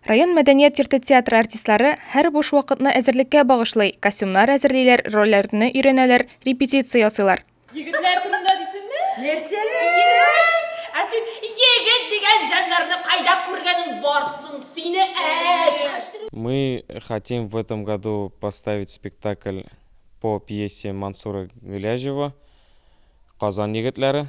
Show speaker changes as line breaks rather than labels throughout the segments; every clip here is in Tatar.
Район мәдәният йорты театры артистлары һәр буш вакытны әзерлеккә багышлый, костюмнар әзерлиләр, рольләрне өйрәнәләр, репетиция ясыйлар. Егетләр
турында дисеңме? Нәрсә?
Ә
син егет дигән җаннарны кайда күргәнең бар соң сине, әш? Мы
хотим в этом году поставить спектакль по пьесе Мансура Гыйләҗева Казан егетләре.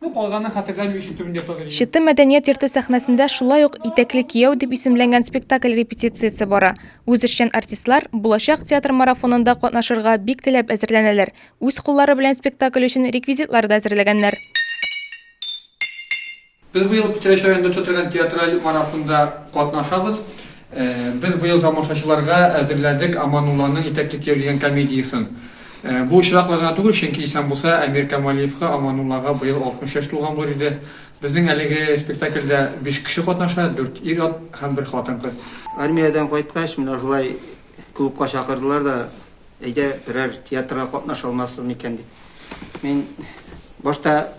Ну, калганын хәтерләмим, ишетүен дә таныйм. Чыты мәдәният йорты сәхнәсендә шулай ук Итәкле кияү дип исемләнгән спектакль репетициясе бара. Үзешчән артистлар Булачак театр марафонында катнашырга бик теләп әзерләнәләр, үз куллары белән спектакль өчен реквизитлар да әзерләгәннәр.
Без быел Питрәч районында үтә торган театраль марафонда катнашабыз. Без быел тамашачыларга әзерләдек Аманулланың итәкле кияү дигән комедиясен. Бу очраклы гына түгел, чөнки исән булса, Әмир Камалиевка Амануллага быел 60 яшь тулган булыр иде. Безнең әлеге спектакльдә биш кеше катнаша, дүрт ир-ат һәм бер хатын-кыз. Армиядән кайткач,
менә шулай клубка чакырдылар да, әйдә, берәр театрга катнаша алмассыз микән дип. Мин башта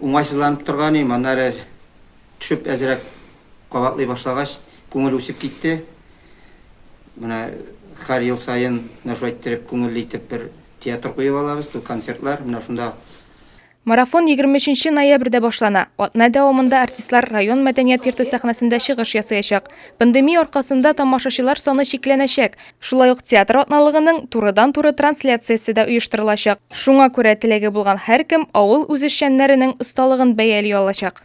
уңайсызланып торган идем, аннары. Төшеп әзрәк кабатлый башлагач, күңел үсеп китте. Менә хәр ел саен менә шулай иттереп, күңелле итеп бер театр куеп алабыз, ту концертлар. Менә шунда. Марафон
егерме өченче ноябрьдә башлана. Атна дәвамында артистлар район мәдәният йорты сәхнәсендә чыгыш ясаячак. Пандемия аркасында тамашачылар саны чикләнәчәк. Шулай ук театр атналыгының турыдан-туры трансляциясе дә оештырылачак. Шуңа күрә теләге булган һәркем авыл үзешчәннәренең осталыгын бәяли алачак.